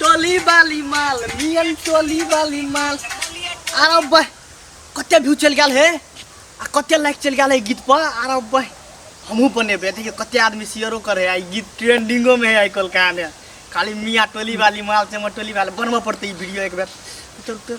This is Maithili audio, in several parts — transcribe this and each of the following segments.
टोली वाली माल मियन टोली वाली माल आरो बह कते व्यू चल गेल हे आ कते लाइक चल गेल है गीत पर आरो बह हमहूँ बनेबे देखिए कते आदमी शेयरो करे है गीत ट्रेंडिंगो में है आई कोलका में खाली मिया टोली वाली माल चमर टोली वाली बनबऽ पड़तै ई वीडियो एक बेर चल चल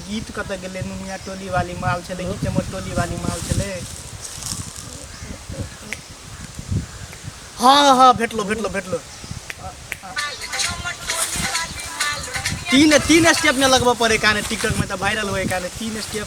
गीत कतऽ गेलै नुनिया टोली वाली माल छलै कि चमर टोली वाली माल छलै हाँ हाँ भेटलो भेटलो भेटलो तीन तीन स्टेप में लगबऽ पड़े काने टिकटॉक में तऽ वायरल होए काने तीन स्टेप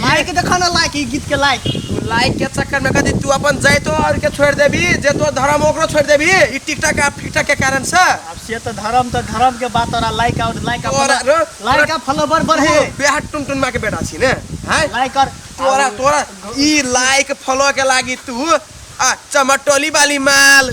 मार के देखा ना लाइक ई गीत के लाइक तू लाइक के चक्कर में कदी तू अपन जैतो और के छोड़ देबी जे तो धर्म ओकरो छोड़ देबी ई टिकटॉक आ फिकटॉक के कारण से अब से तो धर्म तो धर्म के बात और लाइक और लाइक और रो- लाइक का फॉलोवर बढ़े तू बेहा टुन टुन माँ के बेटा छी ने हैं लाइक और तोरा तोरा ई लाइक फॉलो के लागी तू आ चमटोली वाली माल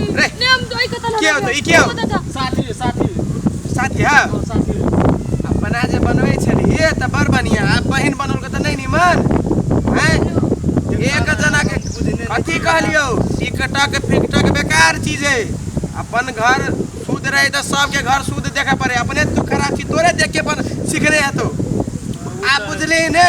के हो त ई के हो साथी साथी साथी है हाँ, साथी अपना जे बनबै छलिए त बड़ बढ़िया आ बहिन बनल के त नहीं निमन हैं एक जना के अथी कहलियो टिकटा के फिकटा के बेकार चीज है अपन घर शुद्ध रहे त सबके घर शुद्ध देखे पड़े अपने तू खराब चीज तोरे देख के अपन सीखने है तो आप बुझली ने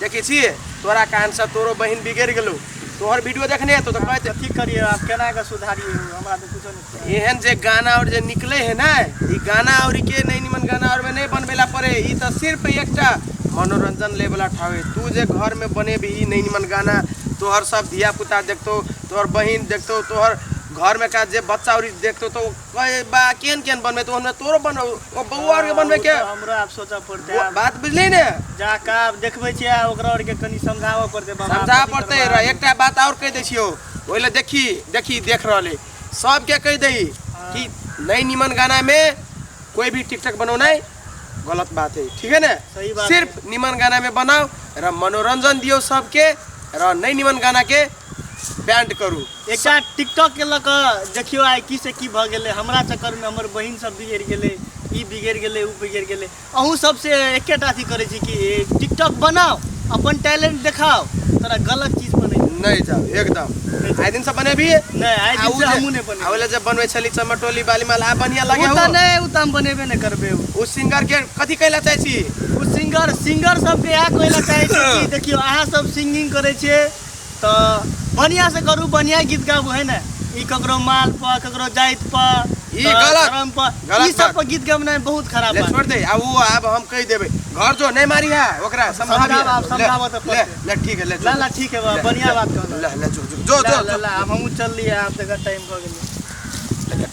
देखै छी तोरा कारणसँ तोरो बहिन बिगड़ि गेलौ तोहर वीडियो देखने हेतौ तऽ कहै की करिए आब केना कऽ सुधारिए हमरा तऽ कुछो नहि एहन जे गाना आओर जे निकलै है ने ई गाना आओर के नहि निमन गाना आओर नहि बनबै लए पड़े ई तऽ सिर्फ एकटा मनोरंजन ले वाला ठाव है तू जे घर में बने भी नहीं निमन गाना तोहर सब धिया पुता देखतौ तोहर बहिन देखतौ तोहर घर में का जे बच्चा आओर देखतौ तो कहे बा केन केन बनबे तो हमरा तोरो बन ओ बौआ आर के बनबे के हाँ, हमरा आप सोचा पड़ते वो- बात बुझली ने जा का आप देखबे छे आ ओकरा और के कनी समझावा पड़ते बाबा समझा कथी पड़ते करबा? रह एकटा बात और कह दै छियो ओहि लए देखी देखी देख रहल है सबके कह दही कि नई निमन गाना में कोई भी टिकटक बनौना है गलत बात है ठीक है ना सही बात सिर्फ निमन गाना में बनाओ र मनोरंजन दियो सबके र नई निमन गाना के बैंड करू एकटा टिकटॉक के लऽ कऽ देखियो आइ की से की भऽ गेलै हमरा चक्कर में हमर बहिन सब बिगड़ गेलै ई बिगड़ गेलै ऊ बिगड़ गेलै अहूँ सब से एकेटा अथी करै छी कि टिकटॉक बनाओ अपन टैलेंट देखाओ तोरा गलत चीज पर नहीं नहीं जाओ एकदम आइ दिन से बनेबी नहीं आइ दिन से हमहूँ नहीं बने आवेला जब बनवे छली चमटोली बाली माल आ बढ़िया लगे हो नहीं ऊ त हम बनेबे नहीं करबे ऊ सिंगर के कथी कहला चाहे छी ऊ सिंगर सिंगर सब के आ कहला चाहे छी देखियो अहाँ सब सिंगिंग करै छी तऽ बढ़िया से करू बढ़िया गीत गाबू है ने ई ककरो माल पर ककरो जाइत पर ई तऽ गलत, धर्म पर गलत ई सब बात। पर गीत गबनाइ बहुत खराब ले बात छोड़ दे अब वो अब हम कह देबे घर जो नहीं मारी है ओकरा समझाबी समझाब, आब ले, समझाबऽ तऽ ले पड़तै। ले ठीक है ले जो, ला, ला, ठीक है, बा, ले, बढ़िया ले, बात कहलऽ। ले ले जो जो जो ला, जो, ला, जो ला, आब हमहूँ चललियै आब देखा टाइम भऽ गेलै